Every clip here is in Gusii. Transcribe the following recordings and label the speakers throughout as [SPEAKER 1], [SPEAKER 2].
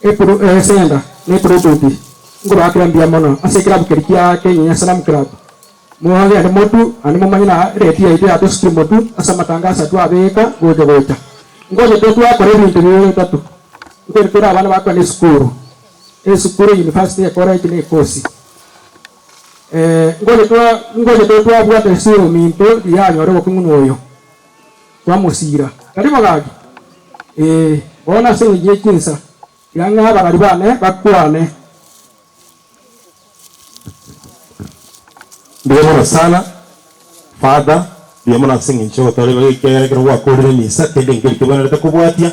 [SPEAKER 1] Epuresenta na Epuretuti nkobaha kera mbuya mono ase ekerabu keria kia Kenya Slam Club. Mogende motue naende momanye na rate yaito yatosikire motue ase amatango ase atwo abeeka gocha gocha. Ngocha totwakora ebinto bibere bitato nkoirete ore abana bakogenda esukuru, esukuru, university, ecollege na ekosi. Ngocha totwabwate esura ominto rianyore obokong'u na oyo. Twamosiira. Tari mogaki? Ee, bono ase engencho ye chinsa, tiga ng'a abarari bane bakwane.
[SPEAKER 2] Mbuya mono sana, Father. Mbuya mono ase engencho y'ogotooreka gekiagera ekero gwakoorire emisa, kende enkerikebwenerete kobwatia.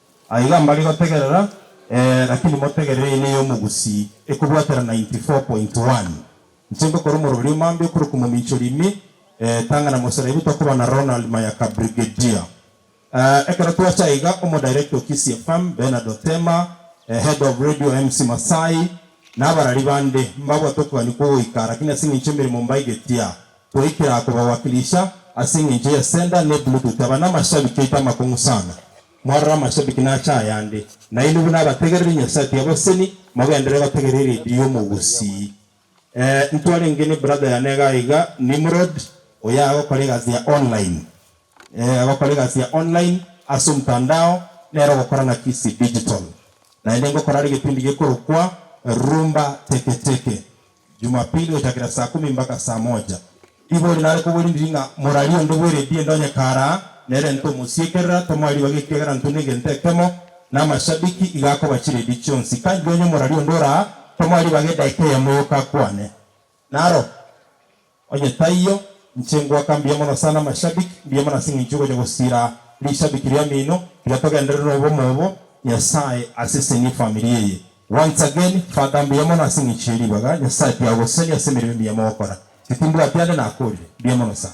[SPEAKER 2] Aiga mbari gotegerera ee lakini motegerere ene yomogusii ekobwatera 94.1 Inche ngokora omoroberio mambia okorokwa mominchori ime ee tang'ana moseraibu tokoba na Ronald Mayaka Brigadier ee ekero twacha aiga omo director o Kisii FM Bernard Otema ee head of radio MC Masai nabarari bande mbabwate okogania kwogoika lakini aseng'encho emeremo mbaigetia Goikera akobawakilisha ase engencho ya Sender ne Bluetooth aba namashabiki aito amakong'u sana. Mwarora amashabiki nache ayande. Nainwe buna abategereri Nyasae tiabaseni, mogendere gotegerera eredio y'omogusii. Ee, ntwarenge ne brother yane iga iga, Nimrod, oyo agokora egasi ya online. Ee, agokora egasi ya online ase omtandao, nere ogokora na Kisii Digital. Naende ngokora are egetindi gekorokwa Rumba Teke Teke. Jumapili gochakera saa kumi mbaka saa moja. Riborio nare koborindiri ng'a morarie onde bw'eredie ndonye karaa nere ntomosiekerera tomoe ribaga ekiagera ntwe negento ekemo namashabiki iga akoba chiredie chionsi kanjire onye morarie onde oraa tomoe ribaga edaika eyemo yoka akwane naro Onye taiyo, inche ngoaka mbuya mono sana amashabiki, mbuya mono ase eng'encho ogocha gosira rishabiki riamino, tiga togenderere nobomo obo Nyasae asesenie efamiri eye. Once again, Father mbuya mono ase eng'encho ye ribaga Nyasae tiagosesenie ase emeremo emiya mogokora. Gaki mbwati ande nakorire. Mbuya mono sana.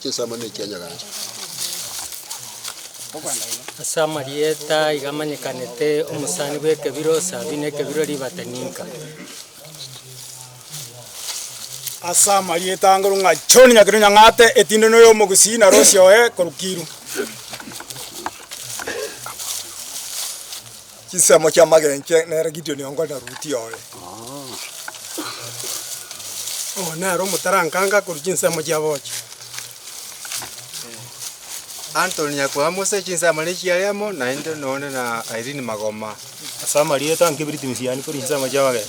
[SPEAKER 3] Chinsemo ne chia Nyagancha.
[SPEAKER 4] Ase amarieta aiga amanyekanete, omosani bw'ekebiro Sabi na ekebiro Ribata ninka?
[SPEAKER 5] Ase amarieta anguru ng'a John Nyakeru Nyang'ate, Etinde noyo omogusii na Rosi oye koru Kiiru.
[SPEAKER 6] Chinsemo chi'amagencho nere Gideoni ongo na Ruti oye.
[SPEAKER 5] Oo nere omotarankanga akorua chinsemo chi'aboochi.
[SPEAKER 7] Anthony Nyakwamuse, chinsemo ne chiare amo naende noone na Irene Magoma. Ase amarieta
[SPEAKER 5] nkeberiti misiani korwa chinsemo chi'amagencho.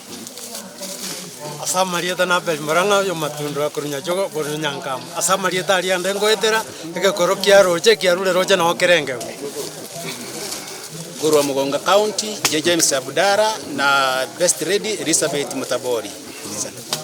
[SPEAKER 5] Ase amarieta na Abeli Morang'a oy'omatundwa korwa Nyachogo korwa Nyankama, ase amarieta aria ande ngoetera egekoro kia roche kia rure roche nao kerengeo.
[SPEAKER 4] Korwa Mugunga County, inche James Abudara na Best Lady Elizabeth Mutabori.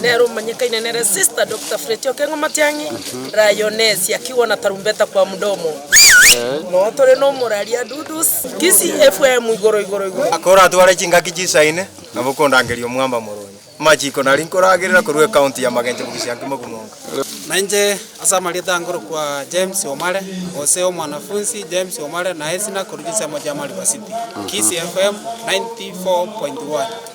[SPEAKER 8] Nere omanyekaine nere Sister Doctor Fletty Okengo Matiang'i, Lioness Yakigwa na Tarumbeta kwa Mdomo. Noo tore na omoraria Dudus, Kisii FM igoro igoro igoro. Aka oratware
[SPEAKER 7] chingaki chisaine, nabo okondangeria omwamba moronye. Amachiko naria nkoragerera korwa ecounty ya Magencho bogisia nkima okomoka. Na inche
[SPEAKER 5] ase amarieta nkorokwa James Omare, gose Omwanafunsi James Omare, naye sina korwa gisemo gia Mariba City. Kisii FM 94.1.